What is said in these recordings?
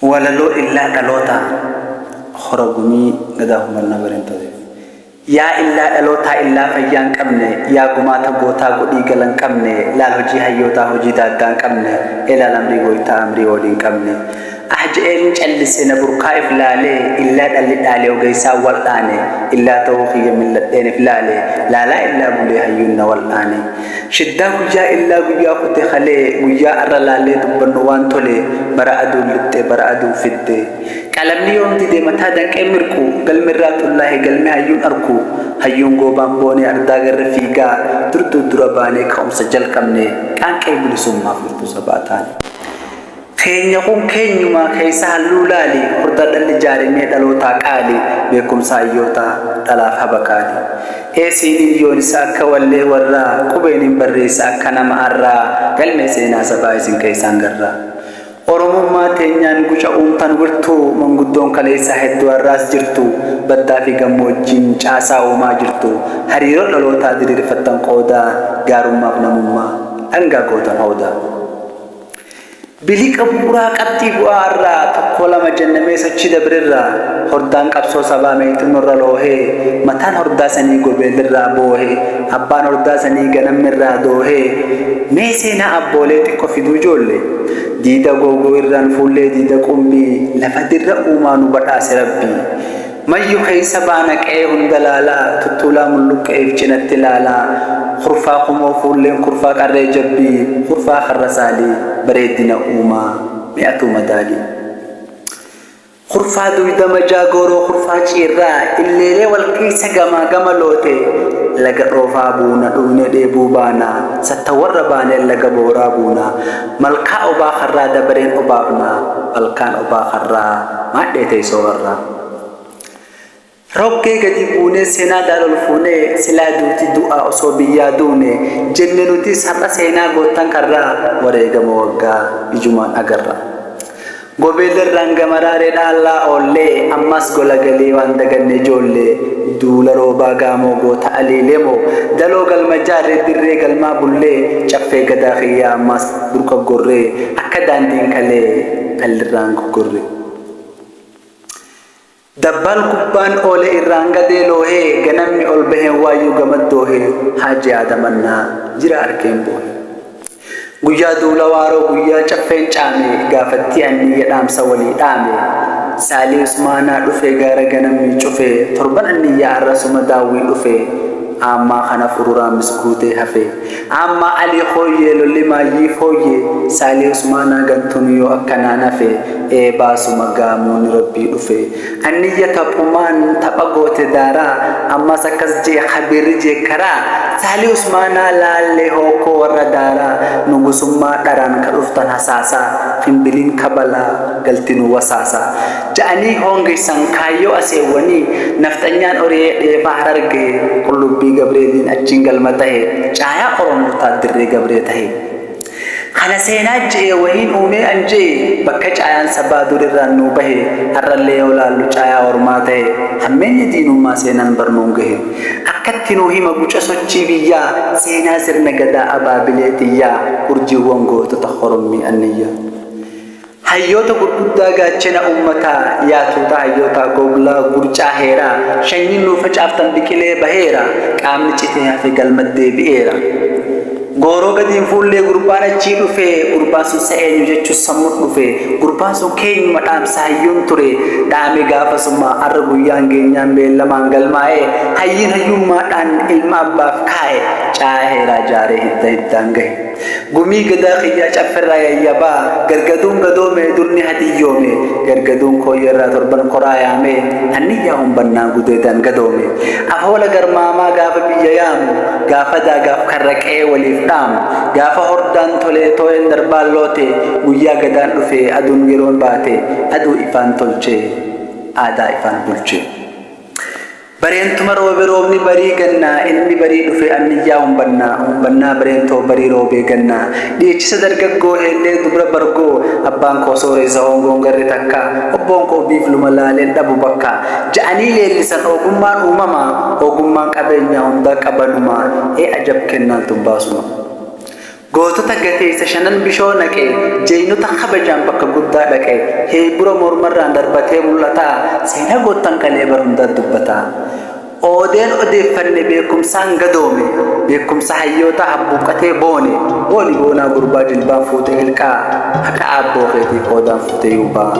Walaloo Illaa Dhalootaa Hora Gumii Gadaa Humannaa Barentootiif. Yaa illaa dhalootaa illaa fayyaa hin qabne Yaa gumaata gootaa godhii gala hin qabne Laal hojii hayyootaa hojii daaggaa hin qabne Ee laal amrii gooytaa amrii oolii hin qabne Ah je'ee hin callise na burqaa if laale Illaa dhalli dhaale ogeeysaan wal'aane Illaa ta'uu kiyya mil'adheen if laale Laalaa illaa bulee hayyuun na wal'aane Shiddaa guyyaa illaa guyyaa kute kalee guyyaa arra laallee dubbannu waan tole bara aduun lixxe bara aduun fidde qalamni yoom dide mataa danqee mirqu galmi irraa xullaahe galmi hayyuun arku hayyuun goobaan boonee ardaa garre fiigaa dur dur dura baanee ka'umsa jalqabne qaanqee bilisummaa furtuu sabaa taane. Teenya kun keenyumaa keessa halluu laali Hordaa dhalli jaarimee dhalootaa qaali Beekumsa hayyoota dhalaaf haba kaali Ee siiniin yoonisa akka wallee warraa Qubeeniin barreessa akka nama arraa Galmee seenaa sabaa isin keessaan garra Oromummaa teenyaan guca uumtan wirtuu Manguddoon kaleessaa hedduu arraas jirtu Baddaa fi gammoojjiin caasaa uumaa jirtu Hariiroo dhalootaa diriirfattan qooda Gaarummaaf namummaa dhangaa gootan hooda. Biliqa bu'uraa qabxii bu'aa irraa tokkoo lama jenna mee sochii dabrirraa hordaan qabsoo sabaa meexxin horra loohee mataan hordaa sanii gobeelirraa boohe abbaan hordaa sanii ganamni irraa doohe mee seenaa abboolee xiqqo fiduu joolle diida googoo irraan fuullee diida qumbii lafa dirra uumaa nu badhaase rabbii Mayyu keessa baana qe'ee hunda laalaa Tuttuulaa mulluqqe'eef cinatti laalaa Kurfaa kumoo fuulleen kurfaa qarree jabbii Kurfaa karra saalii bareeddina uumaa mee atuu madaali Kurfaa duyda majaa gooroo kurfaa ciirraa Illeelee wal keessa gamaa gama lootee Laga dhoofaa buuna dhugnee dheebuu baana Sattawwarra baanee laga booraa buuna Malkaa obaa karraa dabareen obaafna Malkaan obaa karraa maadhee teessoo karraa. Rokkee gadi buunee seenaa gaara ol fuunee silaa duuti du'aa osoo biyyaa duune jenne nuti sar'a seenaa goottan karraa wareegama waggaa ijumaan agarra. Gobeellerraan gamaraa reedhaa allaa oollee ammaas gola galee waan daganne ijoollee duula roobaa gaamoo goota alii lemoo daloo galma jaarree dirree galmaa bullee caffee gadaa kiyyaa ammaas burqa gorree akka daandiin kalee dhallirraan goggorree. Dabbaan kubbaan oole irraan gadee loohe ganammi ol baheen waayyuu gamaddoohe Haaji Aadam Annaa jira arkeen boohe. Guyyaa duula waaroo guyyaa caffeen caame gaafattii anniyya dhaamsa walii dhaame Saalii Usmaanaa dhufe gaara ganammii cufe torban anniyyaa arrasuma daawwii dhufe aammaa kana fururaa misguutee hafe. Amma Ali hooyyee lolli maayyii fooyyee Saalih Usmaanaa gantuun yoo akkanaan hafe Eebaasuma gaamooni Rabbii dhufe Anniyya taphumaan tapha goote daaraa Ammas akkas je'e Khabiirri jeekkaraa Saalih Usmaanaa laallee hookkoo warra daaraa Nugusummaa dharaan ka dhuftan hasaasaa Finbiliin kabalaa galti nu wasaasaa ja'anii hoongessan kaayyoo aseewwanii nafxanyaan Oriyee dheefaa Hararge qullubbii Gabreeliin achiin galma tahe caayaa Oromoo taat dirree Gabree tahe. Kana seenaa je'ee wahiin uumee an je'e bakka caayaan sabaa dur irraan nuu bahe har'allee yoo laallu caayaa ormaa tahe hammeenyi diinummaa seenan bar nuun gahe akkatti nuu hima guca sochii biyyaa seenaa sirna gadaa abaabilee tiyyaa urjiiwwan gootota horommii anniyyaa. Hayyoota gurguddaa gaachena ummataa Yaa tuuta hayyootaa gogla gurcaa heeraa Shanyiin nuu facaaftan biqilee baheera Qaamni citee hafe galmat deebi'eera Gooroo gadi hin fuullee gurbaan achii dhufe Gurbaan sun sa eenyu jechuus sammut dhufe Gurbaan sun keenyuma dhaamsa hayyuun ture Dhaame gaafasuma arra guyyaan geenyaan beellamaan galmaa'e Hayyiin hayyummaadhaan ilma abbaaf kaa'e Caayaa heeraa jaaree hidda hiddaan gahe. Gumii gadaa kiyyaa cafferraa yayyabaa gargaduun gadoomee dur ni hadiyyoome gargaduun kooyyerraa torban koraa yaamee hanniyyaa humbannaa gudeedaan gadoome afoola garmaamaa gaafa biyya yaamu gaafa daagaaf karra qe'ee waliif dhaamu gaafa hordaan tolee tooyeen darbaan loote guyyaa gadaan dhufe aduun yeroon baate aduu ifaan tolche aadaa ifaan bulche. Bareentuma roobe roobni barii gannaa inni barii dhufe anniyyaa humbannaa humbannaa bareentoo barii roobee gannaa dhiichisa dargaggoo heellee dubra bargoo abbaan koo sooreessa hoongoon garri takka obboon koo biifluma laaleen dhabu bakka ja'anii leellisan oogummaan uumama oogummaan qabeenyaa hundaa qabanuma ee ajab kennaan tun baasuma. Gootota gateessa shanan bishoo naqe, Jaynota kabajaan bakka guddaa dhaqe, Heeybura mormarraan darbatee mul'ata, Seenaa goottan kalee bara hundaa dubbata. Oodeen odeeffanne beekumsaan gadoome, Beekumsa hayyootaa habbuuqqatee boone, Booni boonaa gurbaa jilbaan fuute ilqaa, Haqa aabboo keetii qoodaan fuute yuubaa.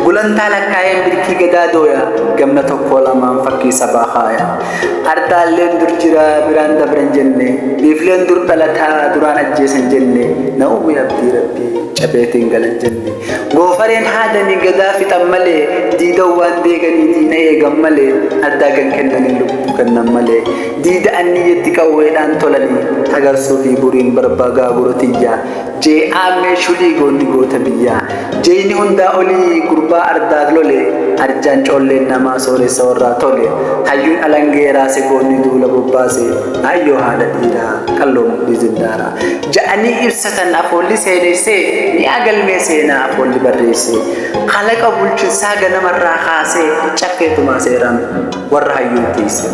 Gulantaa lakkaayeen birkii gadaa dooya, Gamna tokkoo lamaan fakkii sabaa kaaya. Hartaalleen dur jira biraan dabran jenne biifleen dur dhalataa duraan ajjeesan jenne na uumee abdii rabbii cabeetiin galan jenne goofareen haadanii gadaa fixan malee diidan waan deeganii diina eegan malee addaa kan kennanii lubbuu kennan malee diida anniyyatti qawweedhaan tolanii hagarsuu fi buriin barbaa gaagura tiyyaa J Aammee shulii goonni goota biyyaa Jeyni hundaa olii gurbaa ardaag lole Arjaan coolleen namaa sooressa warraa tole Hayyuun alangee raase goonni duula bobbaase Aayyoo haadha dhiiraa qalloo mudhii zindaara Ja'anii ibsatan afoolli seeneessee Mi'aa galmee seenaa afoolli barreesse Kalaqa bulchinsaa ganamarraa kaasee Caffee tumaa seeraan warra hayyuun tiise.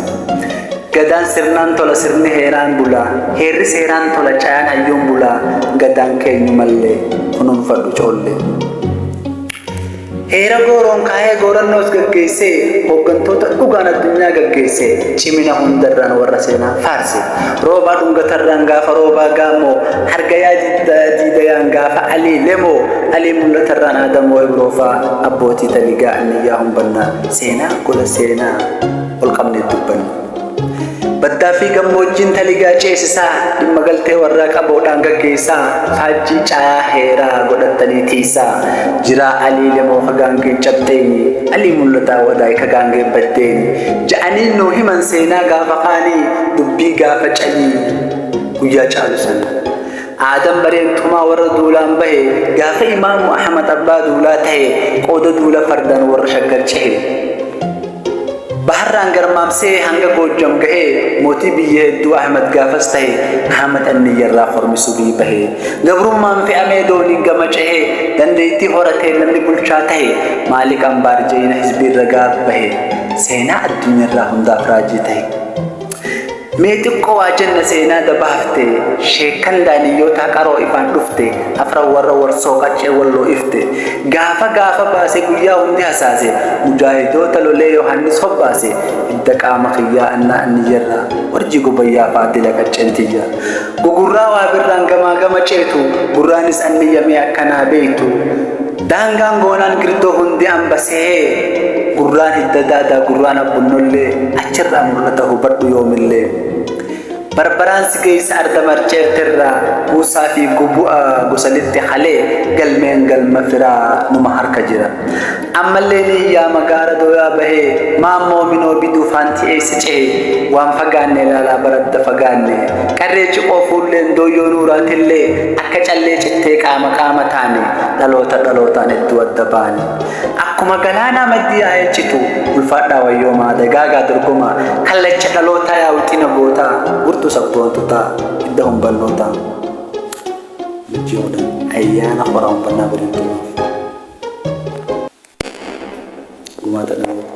Gadaan sirnaan tola sirni heeraan bula heerri seeraan tola cayaan hayyuun bula gadaan keenyu mallee kunuunfadhu coollee. Heera gooroon kaa'ee goorannoos gaggeessee hooggantoota dhugaan addunyaa gaggeessee cimina hundarraan warra seenaa faarse roobaa dhungatarraan gaafa roobaa gaamoo hargayaa diidayaan gaafa alii lemoo alii mul'atarraan aadamoo ibroofaa abbootii taligaa anniyyaa humbannaa seenaa gola seenaa. ol qabneet dubbannu. Baddaa fi gammoojjiin taligaa ceesisaa, dhimma galtee warraa qaboodhaan gaggeessaa, faajjii caayaa heeraa godhattanii tiisaa, jiraa alii lemoo ka gaangeen cabxeeni, alii mul'ataa wadaay ka gaangeen baddeeni, ja'anii nuu himan seenaa gaafa kaanii, dubbii gaafa calii guyyaa caalu sana. Aadaan bareen tumaa warra duulaan bahe, gaafa Imaamu Ahmad abbaa duulaa tahe, qooda duula fardaan warra Shaggar cehe. Baharraan garmaamsee hanga Goojjam gahe, mootii biyya hedduu Ahmad gaafas tahe, Ahmad Anniyyarraa kormi subii bahe. Gabrummaan fe'amee dooniin gama cehe, dandeettii horateen namni bulchaa tahe, Maalik Ambaar jayina hizbiirra gaaf bahe, seenaa addunyarraa hundaaf raajii tahe. Mee xiqqoo waa jenna seenaa dabaafte sheekkan daaniyyootaa qaroo ifaan dhufte afran warra warsoo qaccee walloo ifte gaafa gaafa baase guyyaa hundi hasaase mujaahidoota lolee yohaannis hobbaase hidda qaama kiyyaa annaa anniyyarraa warjii gobayyaa faadila qacceen tiyya gugurraa waa birraan gamaa gama ceetu gurraanis anniyya mee akkanaa beeytu Daangaan goonaan girtoo hundi amba sehee Gurraan hidda daadaa gurraan abbunnollee Achirraa mul'ata hubadhu yoomillee Barbaraan si geessa arda marceerterraa Kuusaa fi gubu'a gosa lixxe halee Galmeen galma firaa numa harka jira Ammallee ni iyyaama gaara dooyaa bahee Maammoo minoo biduu faanti eessa cehee Waan fagaanne ilaalaa baradda fagaanne Qarree ciqoo fuulleen dooyyoo nuuraatillee Akka callee cittee qaama qaama taane dhaloota dhalootaan hedduu adda ba'anii akkuma galaanaa maddii yaa'ee citu ulfaadhaa wayyoomaa dagaagaa dorgomaa kallacha dhalootaa yaa wixina gootaa gurtuu sabboontotaa hidda humbannootaa jechuudha ayyaana horaa uffannaa godhin turuuf gumaata dhalootaa.